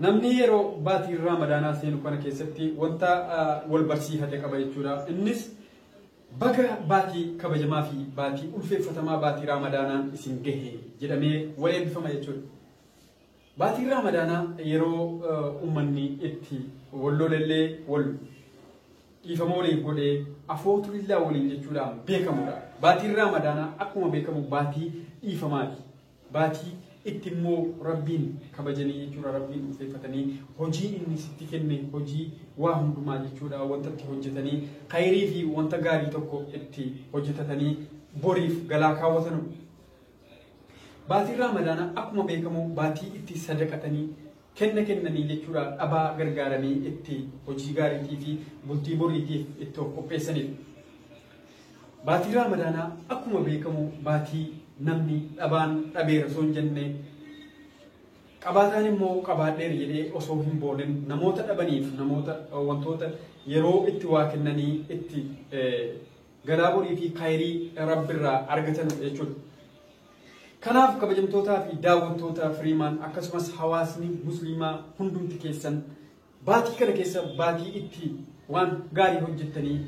Namni yeroo baatii Raamadaanaa seenu kana keessatti wanta wal barsiifate qaba jechuudha. Innis baga baatii kabajamaa fi baatii ulfeeffatamaa baatii Raamadaanaan isin gahe jedhamee wal eebbifama jechuudha. Baatiin Raamadaanaa yeroo uummanni itti wal lolellee wal dhiifama waliif godhee afootulillaa waliin jechuudhaan beekamudha. Baatiin Raamadaanaa akkuma beekamu baatii dhiifamaati. Baatii itti immoo Rabbiin kabajanii jechuudha. Rabbiin ulfeeffatanii hojii inni sitti kenne hojii waa hundumaa jechuudha. Wanta itti hojjetanii khayrii fi wanta gaarii tokko itti hojjetatanii boriif galaa kaawwatanu. Baatiin Raamadaanaa akkuma beekamu baatii itti sadaqatanii kenna kennanii jechuudha dhabaa gargaaranii itti hojii gaariitii fi bultii boriitiif itti of qopheessaniif. Baatii Raamadaanaa akkuma beekamu baatii namni dhabaan dhabeera osoo hin jenne qabaataan immoo qabaadheera jedhee osoo hin boolin namoota dhabaniif namoota wantoota yeroo itti waa kennanii itti galaa borii fi kaayirii rabbirraa argatan jechuudha. Kanaaf kabajamtootaa fi daawwattoota Firiimaan akkasumas hawaasni musliimaa hundumti keessan baatii kana keessa baatii itti waan gaarii hojjettanii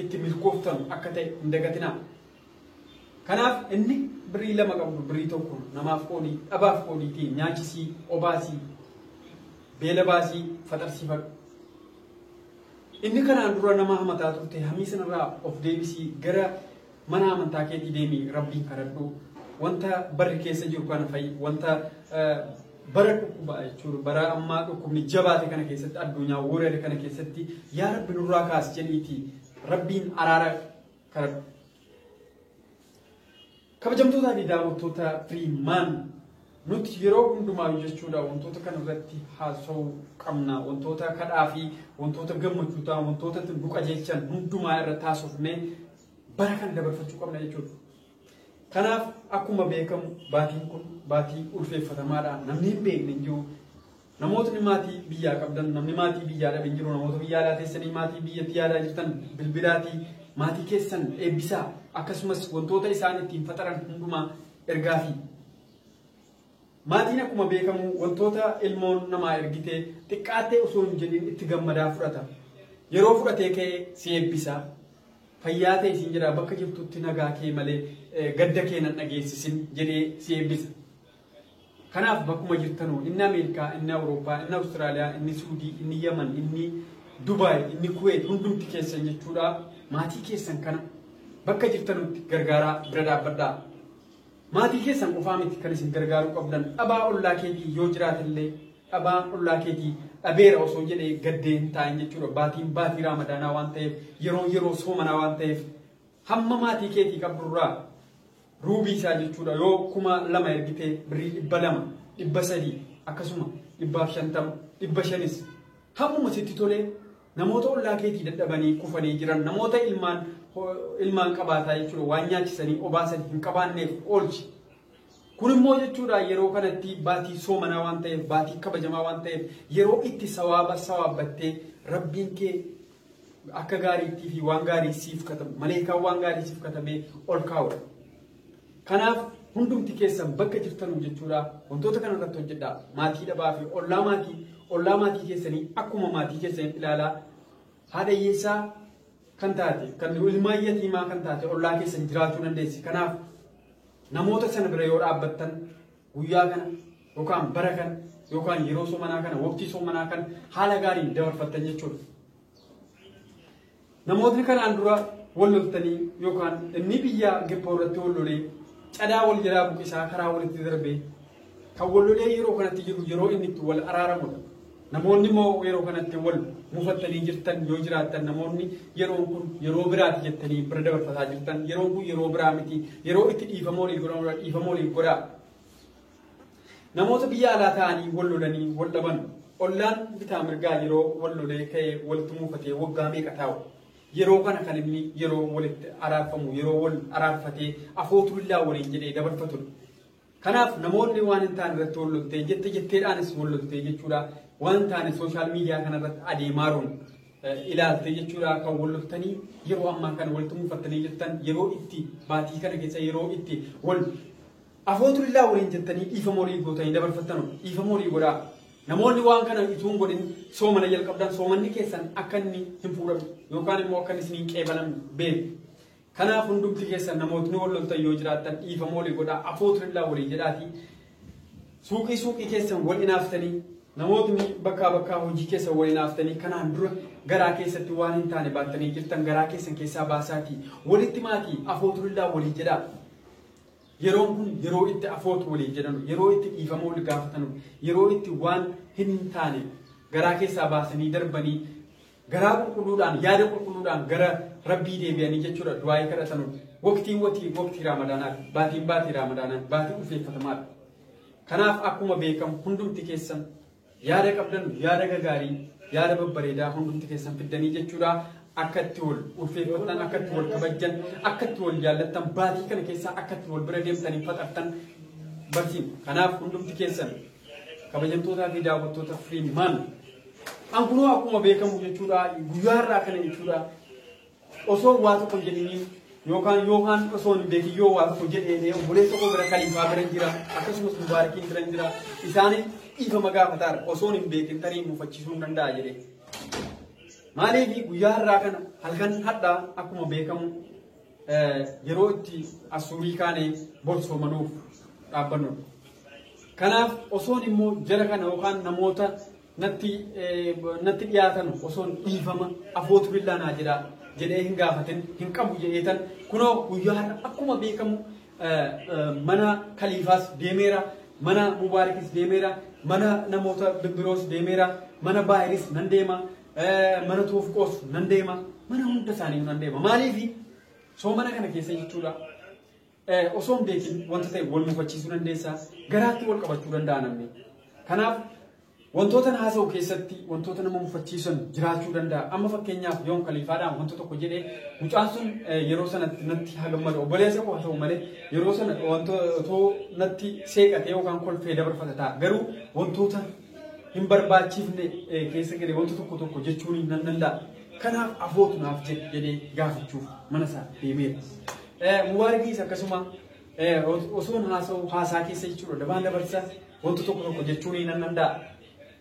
itti milkooftan akka ta'e hin dagatinaa. Kanaaf inni birrii lama qabdu birrii tokko namaaf qoodii dhabaaf qoodiitii nyaachisii obaasii beela baasii faxarsiifadhu. Inni kanaan dura nama hamataa turte hamii sanarraa of deebisii gara Mana amantaa keetii deemi rabbiin kadhadhu. Wanta barri keessa jiru kana fa'i wanta bara dhukkubaa jechuudha. Bara ammaa dhukkubni jabaate kana keessatti addunyaa warreen kana keessatti yaa rabbi nurraa kaas jedhiiti rabbiin araara kadhadhu. Kabajamtootaa fi daawwattoota Firiimaan nuti yeroo hundumaa jechuudha wantoota kana irratti haasa'uu qabna. Wantoota kadhaa fi wantoota gammachuu ta'an wantoota nu qajeelchan hundumaa irratti haasofnee bara kan dabarfachuu qabna jechuudha. Kanaaf akkuma beekamu baatiin kun baatii ulfeeffatamaadha. Namni hin beekne hin jiru. Namootni maatii biyyaa qabdan, namni maatii biyyaa dhabe hin jiru. Namoota biyyaa alaa teessanii maatii biyyatti yaadaa jirtan bilbilaatii maatii keessan eebbisaa akkasumas wantoota isaan ittiin faxaran hundumaa ergaa fi Maatiin akkuma beekamu wantoota ilmoon namaa ergite xiqqaattee osoo hin jedhin itti gammadaa fudhata. Yeroo fudhatee ka'e si eebbisa. Fayyaa ta'e siin jedha bakka jirtutti nagaa kee malee eh, gadda kee nan dhageessisin jedhee si eebbisa. Kanaaf bakkuma jirtanuu inni Ameerikaa, inni Awurooppaa, inni Awustiraaliyaa, inni Suudii, inni Yaman, inni Dubaay, inni Kuweet hundumti keessan jechuudha. Maatii keessan kana bakka jirtanutti gargaaraa bira dhaabbadhaa. Maatii keessan qofaa miti kan isin gargaaruu qabdan dhabaa ollaa keetii yoo jiraatellee dhabaan ollaa keetii dhabeera osoo jedhee gaddee hin taa'in jechuudha. Baatiin baatii raamadaanaa waan ta'eef yeroo yeroo soomanaa waan ta'eef hamma maatii keetii qabdurraa ruubii isaa jechuudha yoo kuma lama ergitee birrii dhibba lama dhibba sadii akkasuma dhibbaaf shantama dhibba shanis hammuma sitti tolee Namoota ollaa keetii dadhabanii kufanii jiran namoota ilmaan ilmaan qabaataa jechuudha waan nyaachisanii obaasan hin qabaanneef oolchi. Kun immoo jechuudha yeroo kanatti baatii soomanaa waan ta'eef baatii kabajamaa waan ta'eef yeroo itti sawaaba sawaabbattee rabbiin kee akka gaariittii fi waan gaarii siif katabu maleekaan waan gaarii siif katabee ol kaa'udha. Kanaaf hundumti keessan bakka jirtanuu jechuudha wantoota kana irratti hojjedha. Maatii dhabaa fi ollaa maatii ollaa maatii keessanii akkuma maatii keessanii ilaalaa haadha hiyyeessaa kan taate kan ilmaa yatiimaa kan taate ollaa keessan jiraachuu dandeessi. Kanaaf namoota sana bira yoo dhaabbattan guyyaa kana yookaan bara kana yookaan yeroo soomanaa kana waqtii soomanaa kana haala gaariin dabarfattan jechuudha. Namootni kanaan dura wal loltanii yookaan inni biyya Gippoo irratti wal lolee cadaa wal jalaa buqisaa karaa walitti darbee kan wal lolee yeroo kanatti jiru yeroo inni itti wal araaramudha. Namoonni immoo yeroo kanatti wal mufattanii jirtan yoo jiraattan namoonni yeroon kun yeroo biraati jettanii bira dabarfataa jirtan yeroon kun yeroo biraa miti yeroo itti dhiifama waliif godhamudha dhiifama waliif godhaa. Namoota biyya alaa taa'anii wal lolanii wal dhaban ollaan bitaa mirgaa yeroo wal lolee ka'ee wal tumuufatee waggaa meeqa taa'u. Yeroo kana kan inni yeroo walitti araarfamu yeroo wal araarfatee afootu illaa waliin jedhee dabarfatudha. Kanaaf namoonni waan hin taane irratti wal loltee jette jetteedhaanis wal loltee jechuudha. Waan taane sooshaal miidiyaa kanarratti adeemaaruun ilaaltee jechuudha kan wal loltanii yeroo ammaa kana wal tumuufattanii jirtan yeroo itti baatii kana keessa yeroo itti wal Afootulillah waliin jettanii dhiifama walii gootanii dabarfattanu dhiifama walii godhaa. Namoonni waan kana utuu hin godhin soomana jalqabdan soomanni keessan akka inni hin fuudhamne yookaan immoo akka inni isiniin qeebalamne beeku. Kanaaf hundumti keessan namootni wal loltan yoo jiraattan dhiifama walii godhaa afootulillah walii jedhaatii suuqii suuqii keessan wal inaaftanii namootni bakkaa bakkaa hojii keessan wal inaaftanii kanaan dura garaa keessatti waan hin taane baattanii jirtan garaa keessan keessaa baasaatii walitti maatii afootulillah walii jedhaa. Yeroon kun yeroo itti afoot waliin jedhanu, yeroo itti dhiifama wal gaafatanu, yeroo itti waan hin taane garaa keessaa baasanii darbanii garaa qulqulluudhaan, yaada qulqulluudhaan gara Rabbii deebi'anii jechuudha du'aa'ii kadhatanu. Waqtiin watii waqtii Raamadaanaati. Baatiin baatii Raamadaanaati. Baatii ulfeeffatamaadha. Kanaaf akkuma beekamu hundumti keessan Yaada qabdan yaada gagaarii yaada babbareedaa hundumti keessan fiddanii jechuudha. Akka itti wal ulfeeffattan, akka itti wal kabajjan, akka itti wal jaallattan, baatii kana keessaa akka itti wal bira deemtanii faxartan barsiin. Kanaaf hundumti keessan kabajamtootaa fi daawwattoota Freeman. An kunoo akkuma beekamu jechuudha guyyaa irraa kana jechuudha Osoo waa tokko hin jedhiniin yookaan yookaan osoo hin beekin yoo waa tokko jedhee obboleessa koo bira kaliifaa bira jira akkasumas mubaarakiin bira jira isaaniin dhiifama gaafataara osoo hin beekin tarii mufachiisuu hin danda'a jedhee. Maaliif guyyaa har'aa kana halkan hadhaa akkuma beekamu yeroo itti asuurii kaanee borsoomanuuf dhaabbannu. Kanaaf osoon immoo jara kana yookaan namoota natti natti dhiyaatan osoon dhiifama afootu billaa naa jira jedhee hin gaafatin hin qabu jedheetan kunoo guyyaa har'a akkuma beekamu mana kaliifaas deemeera mana mubaarikis deemeera mana namoota bibbiroos deemeera mana baayiris nan deema mana toofqoos nan deema mana hunda isaanii nan deema maaliifi soomana kana keessa jechuudha osoo hin beekin wanta ta'e wal mufachiisuu dandeessa garaatti wal qabachuu danda'a namni. Kanaaf wantoota na haasa'u keessatti wantoota nama mufachiisan jiraachuu danda'a. Amma fakkeenyaaf yoon kaliifaadhaan wanta tokko jedhee mucaan sun yeroo sanatti natti haa gammadu obboleessa koo haa ta'u malee yeroo sana wantoota natti seeqatee yookaan kolfee dabarfata ta'a. Garuu wantoota hin barbaachifne keessa galee wanta tokko tokko jechuun nan danda'a. Kanaaf afootu naaf jedhee gaafachuuf mana isaa deemeera. Mubaarikis akkasuma osoon haasa'u haasaa keessa jechuudha dabaan dabarsa wanta tokko tokko jechuu ni nan danda'a.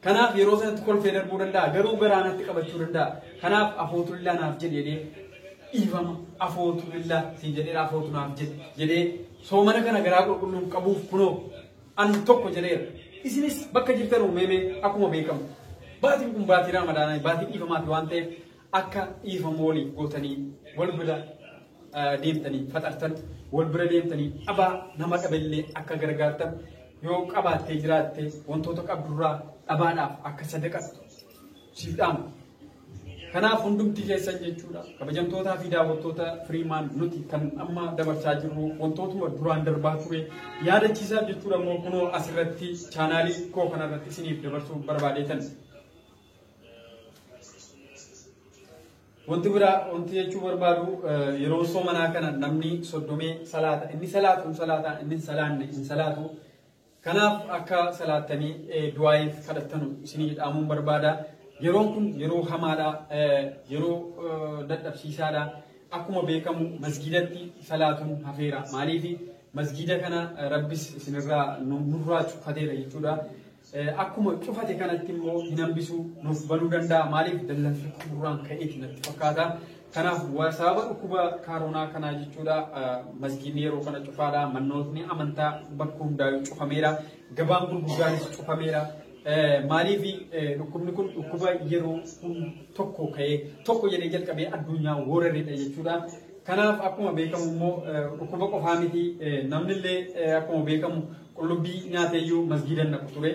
Kanaaf yeroo sanatti kolfee darbuu danda'a garuu garaa natti qabachuu danda'a. Kanaaf afootu illaa naaf jedhe jedhee dhiifama afootu illaa siin jedheera afootu naaf jedhe jedhee soomana kana garaa qulqulluun qabuuf kunoo an tokko jedheera. Isinis bakka jirtan uumamee akkuma beekamu baatiin kun baatii raamadaanaa baatii dhiifamaati waan ta'eef Akka dhiifama waliif gootanii wal bira deemtanii faxartan, wal bira deemtanii dhabaa nama dhabellee akka gargaartan, yoo qabaattee jiraatte wantoota qabdurraa dhabaadhaaf akka sadaqattu siif dhaama. Kanaaf hundumti keessan jechuudha. Kabajamtootaa fi daawwattoota Firiimaan nuti kan amma dabarsaa jirru wantootuma duraan darbaa ture yaadachiisaaf jechuudha immoo kunoo asirratti chaanaalii koo kanarratti isiniif dabarsuu barbaadeetan. Wanti biraa wanti jechuu barbaadu yeroo soomanaa kana namni soddomee salaata inni salaatu hin salaata inni hin salaanne hin salaatu. Kanaaf akka salaattanii du'aayiif kadhattanu isinii dhaamuun barbaada. Yeroon kun yeroo hamaadha yeroo dadhabsiisaadha. Akkuma beekamu masgiidatti salaatuun hafeera. Maaliif masgiida kana rabbis isinirraa nurraa cuffateera jechuudha. Akkuma cufate kanatti immoo hin hambisu nuuf banuu danda'a. Maaliif dallansi xumuraan ka'eeti natti fakkaata. Kanaaf sababa dhukkuba kaaroonaa kanaa jechuudha masgiinni yeroo kana cufaadha. Mannootni amantaa bakka hundaa'u cufameera. Gabaan gurguddaanis cufameera. Maaliif dhukkubni kun dhukkuba yeroo tokko ka'ee tokko jedhee jalqabee addunyaa waraneedha jechuudha. Kanaaf akkuma beekamu immoo dhukkuba qofaa miti namnillee akkuma beekamu Qullubbii nyaatee iyyuu masgiida hin dhaqu ture.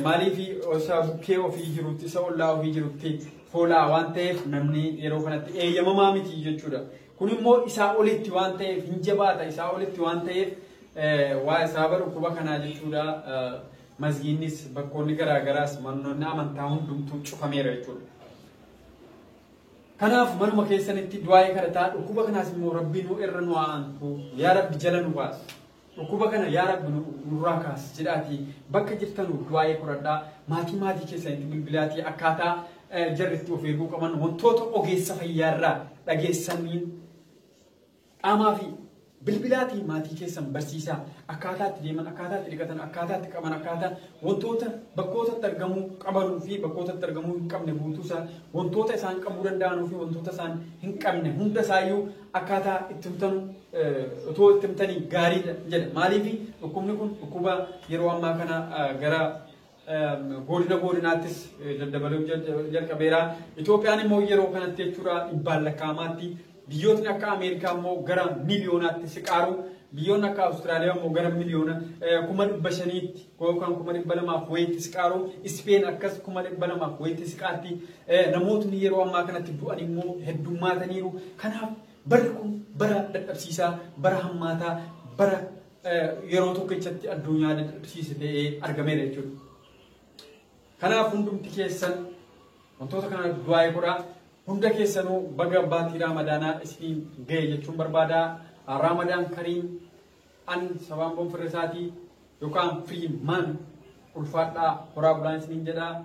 Maaliif isa bukkee ofii jirutti, isa ollaa ofii jirutti foolaa waan ta'eef namni yeroo kanatti eeyyamamaa miti jechuudha. Kun immoo isaa olitti waan ta'eef hin jabaata, isaa olitti waan ta'eef waa sababa dhukkuba kanaa jechuudha. Masgiinnis bakkoonni garaagaraas manoonni amantaa hundumtuu cufameera jechuudha. Kanaaf manuma keessanitti du'aa'ee kadhataa dhukkuba kanaas immoo rabbi nu irra nu aantu yaa rabbi jala nu baas. Dhukkuba kana yaa rabbi nurraa kaasi jedhaatii bakka jirtanu du'aa'ii qoradhaa maatii maatii keessanitti bilbilaatii akkaataa jarri itti of eeguu qaban wantoota ogeessa fayyaarraa dhageessaniin qaamaa fi bilbilaatii maatii keessan barsiisaa akkaataa itti deeman akkaataa itti dhiqatan akkaataa itti qaban akkaataa wantoota bakkoota itti argamuu qabanuu fi bakkoota itti argamuu hin qabne guutuusaa wantoota isaan qabuu danda'anuu fi wantoota isaan hin qabne hunda isaayyuu akkaataa itti himtanu otoo itti himtanii gaariidha jedha. Maaliif dhukkubni kun dhukkuba yeroo ammaa kana gara godina godinaattis daddabaluu jalqabeera. Itoophiyaan immoo yeroo kanatti jechuudha dhibbaan lakkaa'amaatti biyyootni akka Ameerikaa immoo gara miiliyoonaatti siqaaru biyyoonni akka Awustiraaliyaa immoo gara miliyoona kuma dhibba shaniitti Gookaan kuma dhibba lamaaf wayitti siqaaru, Ispeen akkas kuma dhibba lamaaf wayitti siqaarti. Namootni yeroo ammaa kanatti du'an immoo heddummaataniiru. Kanaaf barri kun bara dadhabsiisaa, bara hammaataa, bara yeroo tokkichatti addunyaa dadhabsiise ta'ee argameera jechuudha. Kanaaf hundumti keessan wantoota kana du'aa'ee godhaa. Hunda keessanuu baga baatii Raamadaanaa isiniin ga'e jechuun barbaada. Raamadaan kariim An sabaan boon firra isaatii yokaan free man ulfaadhaa horaa bulaa isiniin jedhaa.